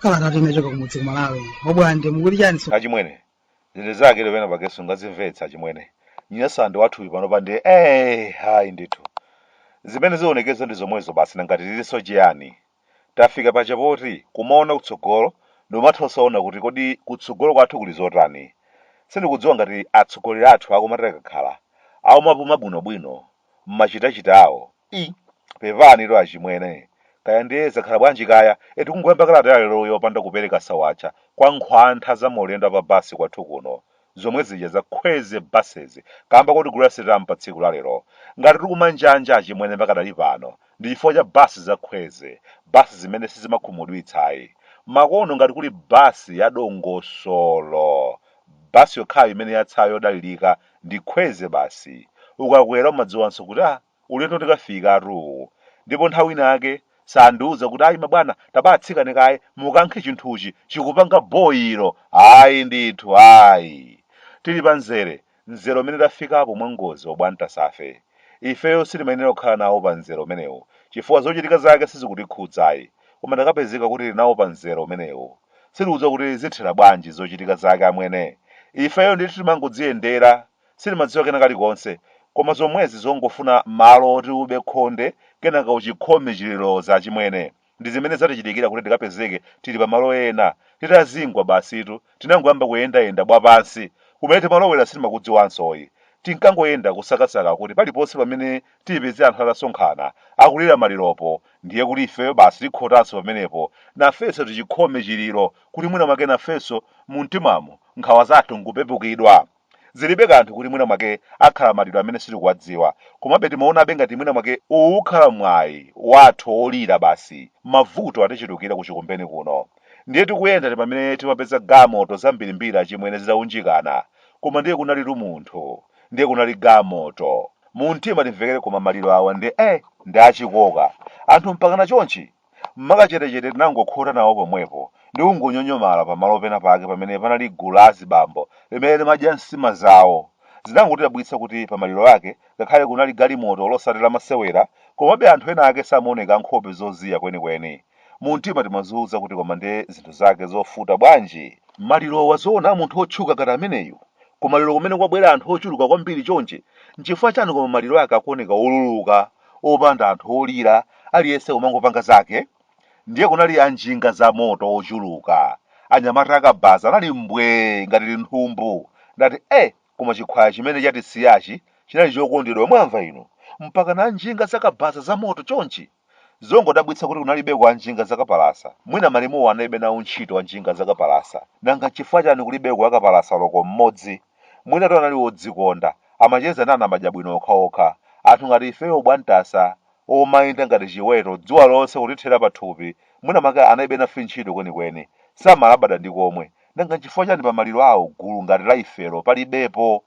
kalata kuchoka kumudzi kumalawi obwande mukuti chani so achimwene zinthu zake lopena pakeso ngazimvetsa achimwene Nyasalandi wathuyu pano pandi eh hayi ndithu zimene zionekeza ndi zomwezo basi nangati lilinso chiyani Tafika pa chapoti kumaona kutsogolo ndikumatha osaona kuti kodi kutsogolo kwathu kuli zotani. Sindikudziwa ngati atsogoleri athu akumati akakhala akumapuma bwinobwino mmachitachita awo. Iii pepanitu achimwene kaya ndiye zakhala bwanji kaya eti kungoyamba kalata yaleroyi yopanda kupereka sawacha kwa nkhwantha za maulendo a pa bus kwathu kuno. zomwe zija za khweze buses kamba koti Gulasiram pa tsiku la lero ngati tikumanjanja achimwene pakadali pano ndi chifukwa cha bus za khweze bus zimene sizimakhumudwitsa ayi makono ngati kuli bus ya dongosolo bus yokhayo imene yatsayi yodalirika ndi khweze basi ukakwera umadziwanso kuti ah Ulendo tikafika atoo! Ndipo nthawi ina yake sandiuza kuti ayi mabwana tabaatsikane kaye mukankhe chinthuchi chikupanga boilo! Ayi ndithu ayi! Tili pa mzere, mzere umene tafikapo mwa ngozi obwantasafe, ifeyo sitimayenera kukhala nawo pa mzere umenewu chifukwa zochitika zake sizikutikhudza ayi koma takapezeka kuti tili nawo pa mzere umenewu sitikudziwa kuti zithera bwanji zochitika zake amwene! Ifeyo ndithu timangodziyendera sitimadziwa kena kalikonse koma zomwezi zongofuna malo oti ube khonde kenaka uchikhome chiliro achimwene ndi zimene zatichitikira kuti tikapezeke tili pamalo ena titazingwa basitu tinangoyamba kuyendayenda bwapansi kumene timalowera sitimakudziwansoyi tinkangoyenda kusakasaka kuti paliponse pamene tipeze anthu atasonkhana akulira maliropo ndiye kuti ifeyo basi tikhotanso pamenepo nafenso tichikhome chiliro kuti mwina mwake nafenso mumtimamo nkhawa zathu nkupepukidwa Zilibe kanthu kuti mwina mwake akhala maliro amene sitikuwadziwa, komabe timaonabe ngati mwina mwake uwu ukhala mwayi wathu wolira basi mavuto atichulukira ku Chikumbeni kuno. Ndiye tikuyenda ndi pamene timapeza gamoto zambirimbiri achimwene zitaunjikana, koma ndiye kunalitu munthu, ndiye kunali gamoto. Mumtima timvekere koma maliro awa ndiye eh ndi achikoka. Anthu mpakana chonchi? M'makachetechete tinangokhota nawo pomwepo ndi kungonyonyomala pamalo pena pake pamene panali gulu la azibambo limene limadya nsima zawo. Zinangotidabwitsa kuti pamaliro ake, ngakhale kunali galimoto losati lamasewera, komabe anthu enaake samaoneka ankhope zoziya kwenikweni. Mumtima timadziuza kuti koma ndi zinthu zake zovuta bwanji! Malirowa zoona a munthu wotchuka ngati ameneyu? Kumaliro kumene kwabwera anthu ochuluka kwambiri chonchi? Nchifukwa chani koma maliro ake akuoneka oluluka opanda anthu olira, aliyense kumangopanga zake, ndiye kunali anjinga za moto ochuluka, anyamata akabaza anali mbwee ngati linthumbu, ndati eh koma chikhwaya chimene chatisiyachi chinali chokondedwa mwamva inu, mpakana anjinga za kabaza za moto chonchi? Zongodabwitsa kuti kunalibeko anjinga za kapalasa, mwina malemuwo analibe nawo ntchito anjinga za kapalasa, nanga nchifukwa chani kulibeko wakapalasa oloko mmodzi? Mwinatu anali wodzikonda, amacheza ndi anamadya bwino okhaokha. Anthu ngati ifeyo bwantasa, omayenda ngati chiweto, dzuwa lonse kutithera pathupi, mwina mwake analibe nafe ntchito kwenikweni. Samalabada ndi komwe. Nanga nchifukwa chani pa maliro awo gulu ngati la ifelo palibepo?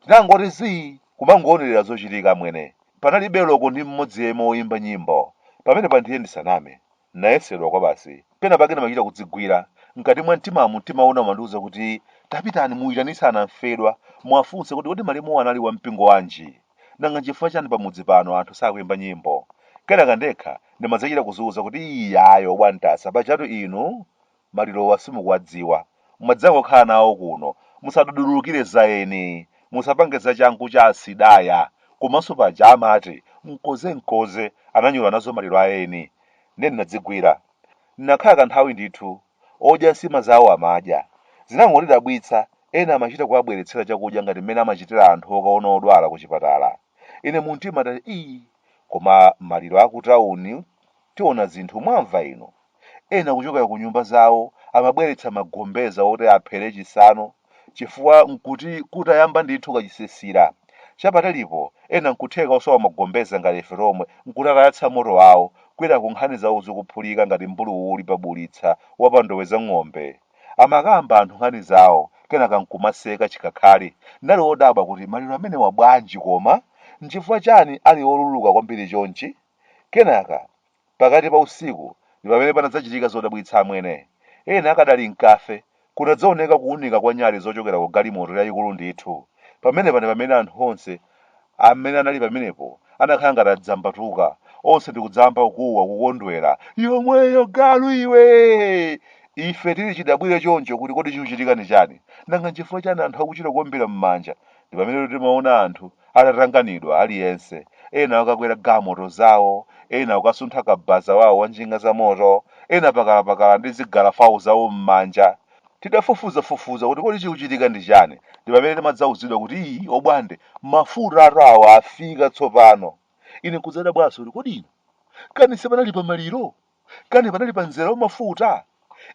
Tinangoti zii! kumangoonerera zochitika amwene. Panalibe loko ndi mmodzi yemwe woimba nyimbo. Pamenepa ndiye ndisaname. N'nayesedwa kwabasi. Penapake ndimachita kudzigwira. Mkati mwa mtimamu, mtima wina umandiuza kuti, Tapitani muitanitse anamfedwa. Muwafunse kuti, Kodi malemuwo anali wa mpingo wanji? Nanga n'chifukwa chani pamudzi pano anthu sakuimba nyimbo? Kenaka ndekha, ndimadzachita kudziuza kuti, Iyayi, obwantasa, pajatu inu Malirowa simukuwadziwa. Mwadzangokhala nawo kuno. Musadudulukire za eni. Musapange zachangu cha asidaya. Komanso paja amati, mkoze mkoze, ananyula nazo maliro a eni. Ndiye ndinadzigwira. Ndinakhala kanthawi ndithu. Odya nsima zawo amadya. Zinangondidabwitsa, ena amachita kuwabweretsera chakudya ngati mmene amachitira anthu okaona odwala kuchipatala. Ine mumtima ndati ii, koma maliro akutauni tiona zinthu mwamva inu? Ena kuchokera ku nyumba zawo amabweretsa magombeza oti aphere chisanu chifukwa n'kuti kutayamba ndithu kachisisira. Chapatalipo, ena n'kutheka osowa magombeza ngati ife tomwe n'kuti atayatsa moto wawo, kwinaku nkhani zawo zikuphulika ngati mbuluwuli pa bulitsa wa pa ndowe za ng'ombe. Amakamba anthu nkhani zawo, kenaka n'kumaseka chikhakhali. Ndinali wodabwa kuti maliro amenewa bwanji koma? N'chifukwa chani ali oluluka kwambiri chonchi? Kenaka, Pakati pa usiku ndi pamene panadzachitika zodabwitsa, amwene. Ena akadali m'kafe, kunadzaoneka kuunika kwa nyali zochokera ku galimoto yayikulu ndithu. Pamenepa ndi pamene anthu onse amene anali pamenepo anakhala ngati adzambatuka, onse ndi kudzayamba kukuwa, kukondwera, Yomweyo, galu iwe! Ife tili chidabwire choncho kuti kodi chikuchitika ndi chani? Nanga nchifukwa chani anthu akuchita kuombera m'manja? Ndi pamenetu timaona anthu. atatanganidwa aliyense, ena okakwera galimoto zawo, ena kukasuntha kabaza wawo wa njinga za moto, ena pakalapakala ndi zigalafawo zawo mmanja. Tidafufuzafufuza kuti kodi chikuchitika ndi chani ndi pamene timadzauzidwa kuti ii obwande mafutatu awa afika tsopano. Ine nkudzadabwanso kuti kodi inu kani sipanali pa maliro? Kani panali pa mzera wa mafuta?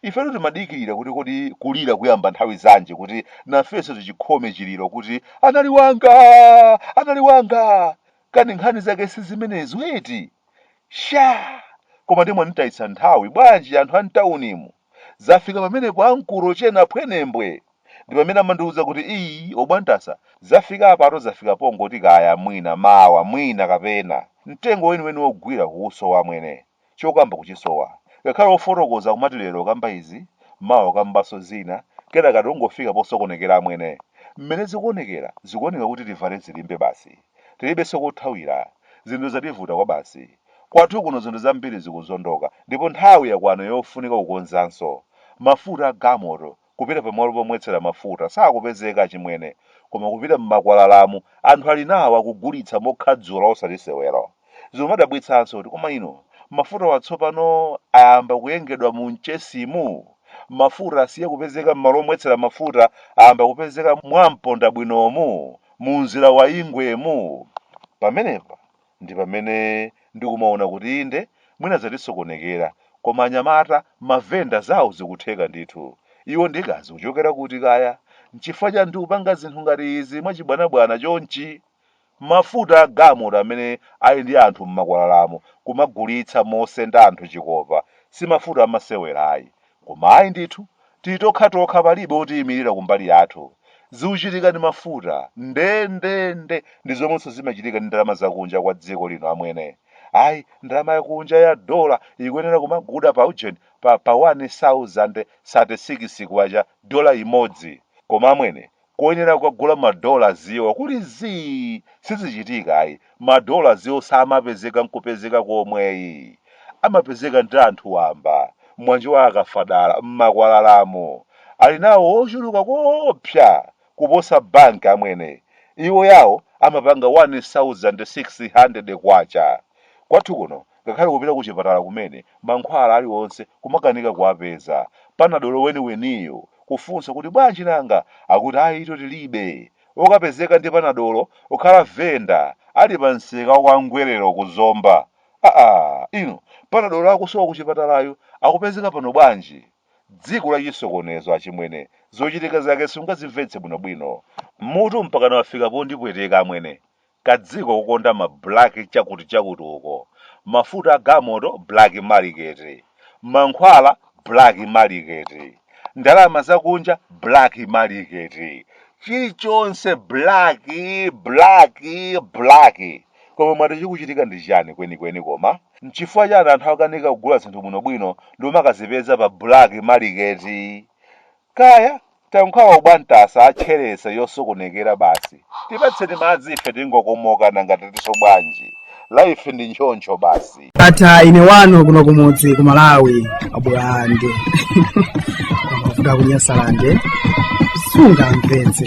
Ifetu timadikirira kuti kodi kulira kuyamba nthawi zanji kuti nafenso tichikhome chiliro kuti anali wanga! Anali wanga! Kani nkhani zake si zimenezo eti? Sha! Koma nde mwanditayitsa nthawi bwanji anthu a m'taunimu? Zafika pamenepo ankolo chena phwenembwe ndipamene amandiuza kuti ii obwantasa zafika apatu zafika pongoti kaya mwina mawa mwina kapena mtengo weniweni ogwira kuusowa amwene chokamba kuchisowa ngakhale ofotokoza kumati lero okamba izi mawa kukambaso zina kenaka tingofika posokonekera amwene mmene zikuonekera zikuoneka kuti tivale zilimbe basi. Tilibenso kothawira. Zinthu zativuta kwabasi. Kwathu kuno zinthu zambiri zikuzondoka ndipo nthawi yakwana yofunika kukonzanso. Mafuta a galmoto kupita pamalo pomwetsera mafuta sakupezeka achimwene koma kupita m'makwalalamu anthu ali nawo akugulitsa mokhadzula osati sewero. Zimadabwitsanso kuti koma inu, mafutawa tsopano ayamba kuyengedwa mu Mchesimu? Mafuta asiye kupezeka m'malo omwetsera mafuta ayamba kupezeka mwa Mpondabwinomu, mu nzira wa Ingwemu? Pamenepa ndi pamene ndikumaona kuti inde mwina zatisokonekera koma anyamata, mavenda zawo zikutheka ndithu. Iwo ndi kaya zikuchokera kuti kaya? Nchifukwa chani tikupanga zinthu ngati izi mwachibwanabwana chonchi? Mafuta a galmoto amene ali ndi anthu mmakwalalamu kumagulitsa mosenda anthu chikopa si mafuta amasewera ayi. Koma ayi ndithu, tili tokhatokha palibe otiyimilira kumbali yathu. Zikuchitika ndi mafuta ndendende ndi zomwenso zimachitika ndi ndalama za kunja kwa dziko lino amwene. Ayi ndalama ya kunja ya dollar ikuyenera kumagulidwa pa ujeni pa pa wani sauzande sate sikisi kwacha dollar imodzi. Koma amwene koyenera kukagula ma dollars wo kuli zii sizichitika ayi ma dollars wo samapezeka nkupezeka komwe ayi amapezeka ndi anthu wamba mwanje wa akafadala mmakwalalamu ali nawo wochuluka koopsa kuposa bank amwene iwo yawo amapanga 1600 kwacha kwathu kuno Ngakhale kupita kuchipatala kumene, mankhwala aliwonse kumakanika kuwapeza, panadolo weniweniyo, kufunsa kuti bwanji nanga? Akuti ayitu tilibe. Okapezeka ndi panadolo kukhala venda ali pa msika wa kwa Ngwelero ku Zomba. Aa! Inu, panadolo akusowa kuchipatalayu akupezeka pano bwanji? Dziko la chisokonezo achimwene, zochitika zake sungazimvetse bwinobwino. Mutu mpakana wafika pondipweteka amwene. kadziko kukonda ma black chakuti chakuti uko, mafuta a galimoto black market, mankhwala black market, ndalama zakunja black market, chilichonse black, black, black. Koma mwati chikuchitika ndi chani kwenikweni koma? Nchifukwa chani anthu akanika kugula zinthu bwinobwino ndi kumakazipeza pa black market? Kaya, tayankhawa ubwantasa atchereza yosokonekera basi, tipatseni madzi ife tingokomoka nanga tatiso bwanji, life ndi nchoncho basi. Ata ine wanu kuno kumudzi ku Malawi abulande mavuta kunyasalande sunga mvetse